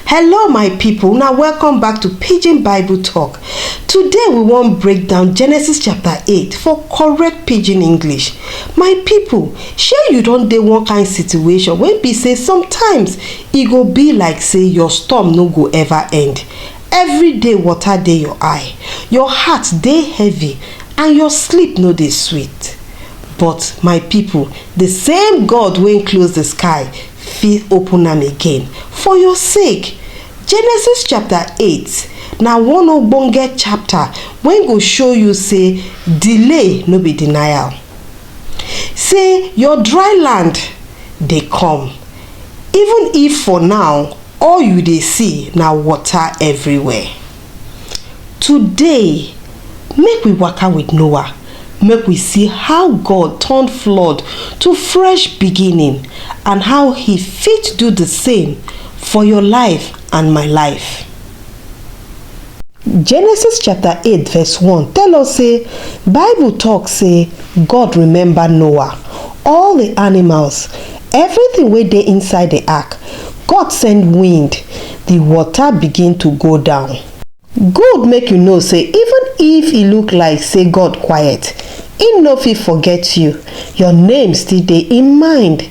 hello my people now welcome back to pidgin bible talk today we wan break down genesis chapter 8 for correct pidgin english my people shey you don dey one kind situation wey be say sometimes e go be like say your storm no go ever end Everyday water dey your eye, your heart dey heavy and your sleep no dey sweet. But my pipu, the same God wey close the sky fit open am again for your sake. Genesis chapter eight na one ogbonge chapter wey go show you sey delay no be denial, sey your dry land dey come. Even if for now all you dey see na water everywhere. Today, make we waka with Noah, make we see how God turn flood to fresh beginning and how he fit do the same for your life and my life. Genesis chapter eight verse one tell us sey bible talk sey God remember Noah, all the animals, everything wey dey inside the ark, God send wind, the water begin to go down. Good make you know sey even if e look like sey God quiet, im no fit forget you, your name still dey im mind.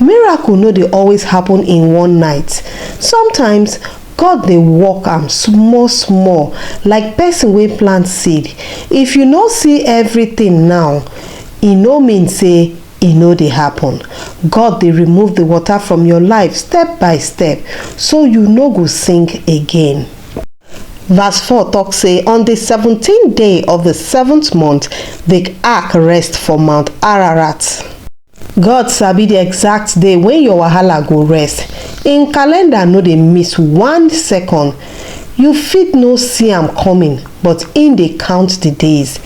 Miracle no dey always happen in one night. Sometimes, God dey work am small small like person wey plant seed. If you no see everything now, e no mean say e no dey happen. God dey remove the water from your life step by step so you no go sink again. Verse four talk say, On the seventeenth day of the seventh month, the ark rest for Mount Ararat. God sabi the exact day when your wahala go rest. Im calendar no dey miss one second. You fit no see am coming, but im dey count the days.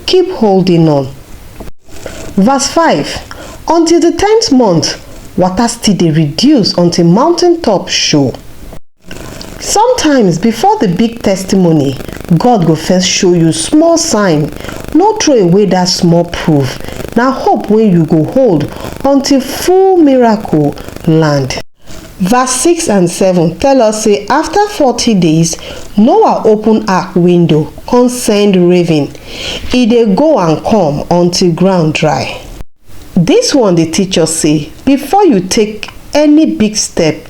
Keep holding on. Verse 5 Until the tenth month, water still dey reduce until mountain top show. sometimes before the big testimony god go first show you small sign no throw away that small proof na hope wey you go hold until full miracle land verse 6 and 7 tell us say after 40 days noah open ark window come send raven e dey go and come until ground dry this one dey teach us say before you take any big step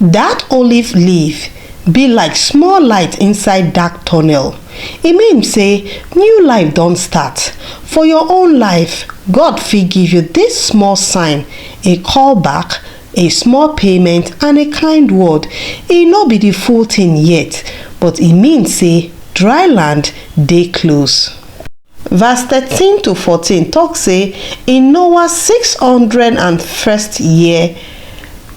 That olive leaf be like small light inside dark tunnel, e mean say new life don start. For your own life, God fit give you this small sign, a call back, a small payment and a kind word. E no be the full thing yet, but e mean say dry land dey close. Verse thirteen to fourteen talk say in Noah six hundred and first year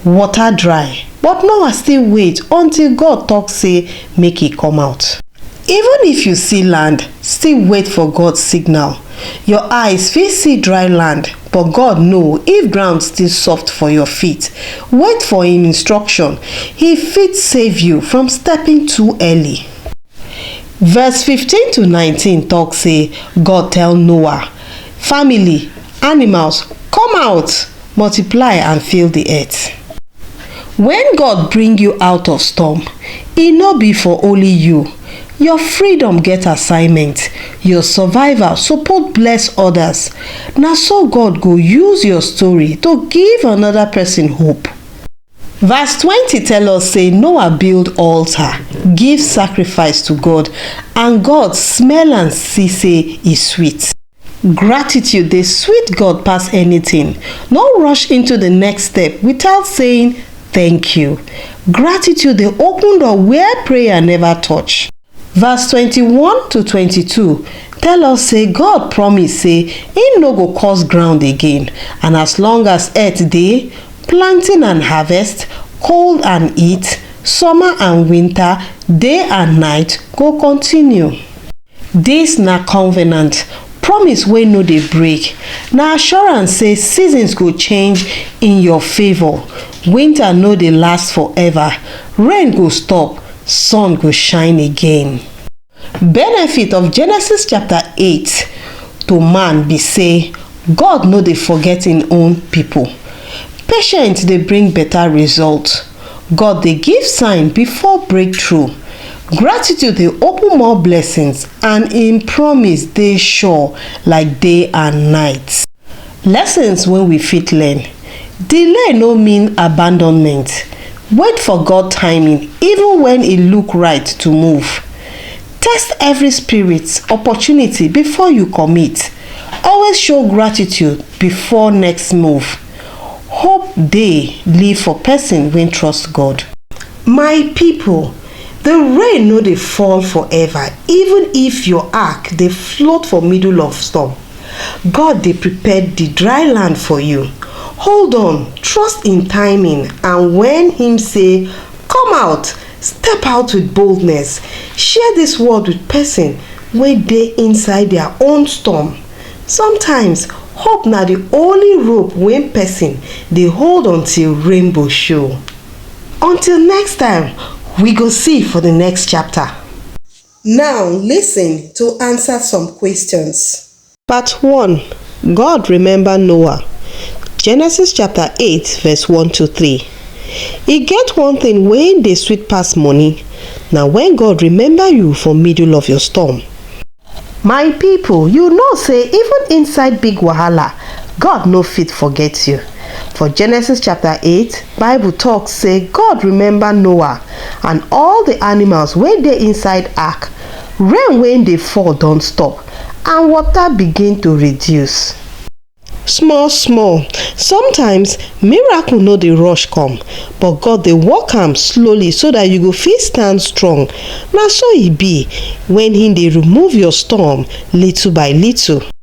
water dry but Noah still wait until God talk say make e come out. Even if you see land, still wait for God signal. Your eyes fit see dry land, but God know if ground still soft for your feet. Wait for him instruction. He fit save you from stepping too early. Verse fifteen to nineteen tok sey, God tell Noah, family, animals, Come out, multiply and fill di earth. Wen God bring you out of storm, e no be for only you, your freedom get assignment, your survival support bless odas, na so God go use your story to give anoda pesin hope. Verse twenty tell us say Noah build altar, give sacrifice to God and God smell and see say e sweet. Gratitude dey sweet God pass anything. No rush into the next step without saying thank you. Gratitude dey open door where prayer never touch. Verse 21 to 22 tell us say God promise say him no go curse ground again and as long as earth dey, planting and harvest, cold and heat, summer and winter, day and night go continue. Dis na covenant, promise wey no dey break, na assurance say seasons go change in your favour, winter no dey last forever, rain go stop, sun go shine again. Benefit of Genesis chapter 8 to man be say God no dey forget im own pipo. Patience dey bring beta result. God dey give sign before breakthrough. Gratitude dey open more blessings and im promise dey sure like day and night. Lessons wey we fit learn. Delay no mean abandonment, wait for God timing even when e look right to move. Test every spirit, opportunity before you commit, always show gratitude before next move. Hope dey live for person wey trust God. My people, the rain no dey fall forever even if your ark dey float for middle of storm. God dey prepare di dry land for you, hold on trust in timing and wen him say come out step out with boldness share dis word with person wey dey inside their own storm sometimes hope na di only rope wey person dey hold until rainbow show until next time we go see for di next chapter. Now listen to answer some questions. Part one, God remember Noah, Genesis chapter eight verse one to three. E get one thing wey dey sweet pass money, na when God remember you for middle of your storm. My people, you know say even inside big wahala, God no fit forget you. For Genesis chapter 8, Bible talks say God remember Noah and all the animals wey dey inside ark. Rain wey dey fall don stop and water begin to reduce. Small small, sometimes miracle no dey rush come, but God dey work am slowly so that you go fit stand strong. Na so e be when he dey remove your storm little by little.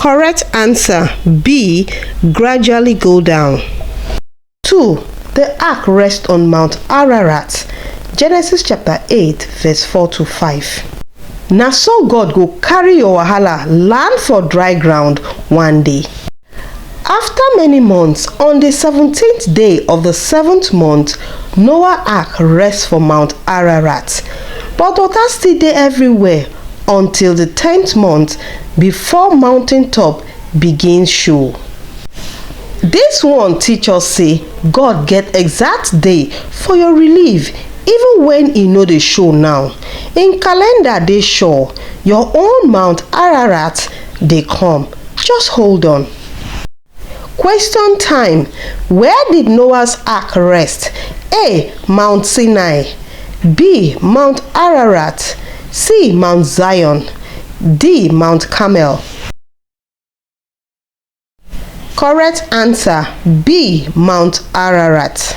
Correct answer B. Gradually go down. 2. The ark rests on Mount Ararat. Genesis chapter 8 verse 4 to 5. Na so God go carry your wahala land for dry ground one day. Afta many months, on di seventeent day of di seventh month, Noah ark rest for Mount Ararat. But water still dey everywhere until di tenth month before mountain top begin show. Dis one teach us sey God get exact day for your relief even wen e no dey show now. Im calendar dey sure, your own Mount Ararat dey come. Just hold on. Question time Where did Noah's ark rest? A. Mount Sinai B. Mount Ararat C. Mount Zion D. Mount Carmel Correct answer B. Mount Ararat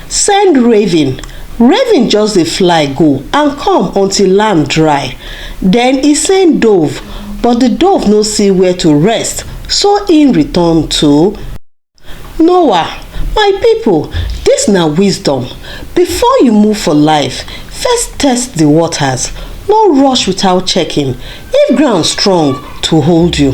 Send raven, raven just dey fly go and come until land dry. Den e send dove, but di dove no see where to rest, so im return to Noah, My pipo, dis na wisdom, before you move for life, first test di waters, no rush without checking if ground strong to hold you.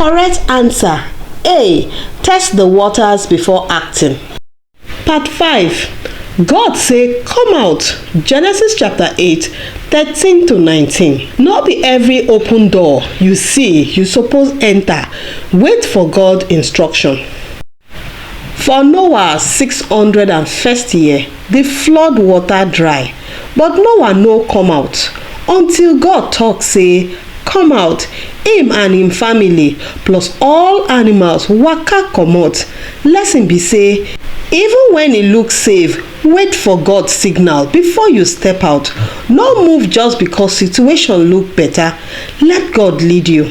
Correct answer A. Test the waters before acting. Part 5 God say come out Genesis chapter 8 13 to 19 no be every open door you see you suppose enter wait for God instruction. For Noah six hundred and first year, di flood water dry, but Noah no come out, until God talk say, Come out, im and im family, plus all animals waka comot. Lesson be say, even when e look safe, wait for God signal before you step out. No move just because situation look better, let God lead you.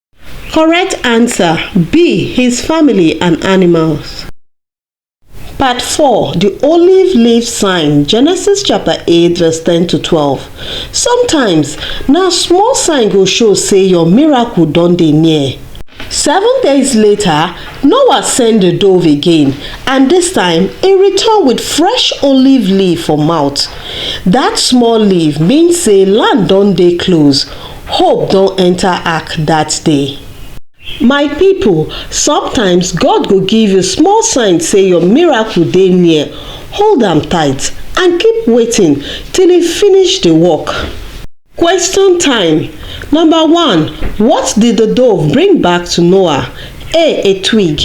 Correct answer, B, his family and animals. Part 4, the olive leaf sign, Genesis chapter 8 verse 10 to 12. Sometimes, na small sign go show say your miracle don dey near. Seven days later, Noah sent the dove again, and this time he returned with fresh olive leaf for mouth. That small leaf means say land don dey close, Hope don enter ark that day. My people, sometimes God go give you small sign say your miracle dey near. Hold am tight and keep waiting till e finish the work. Question time. Number one, what did the dove bring back to Noah? A. A twig.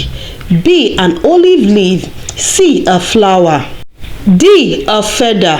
B. An olive leaf. C. A flower. D. A feather.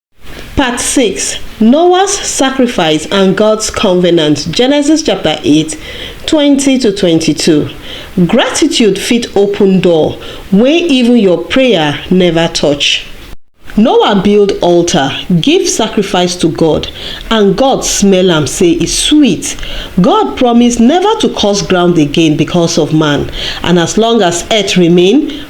Part 6 Noah's Sacrifice and God's Covenant Genesis chapter 8 20 to 22 Gratitude fit open door wey even your prayer never touch. Noah build altar, give sacrifice to God, and God smell am say e sweet. God promise never to curse ground again because of man, and as long as earth remain,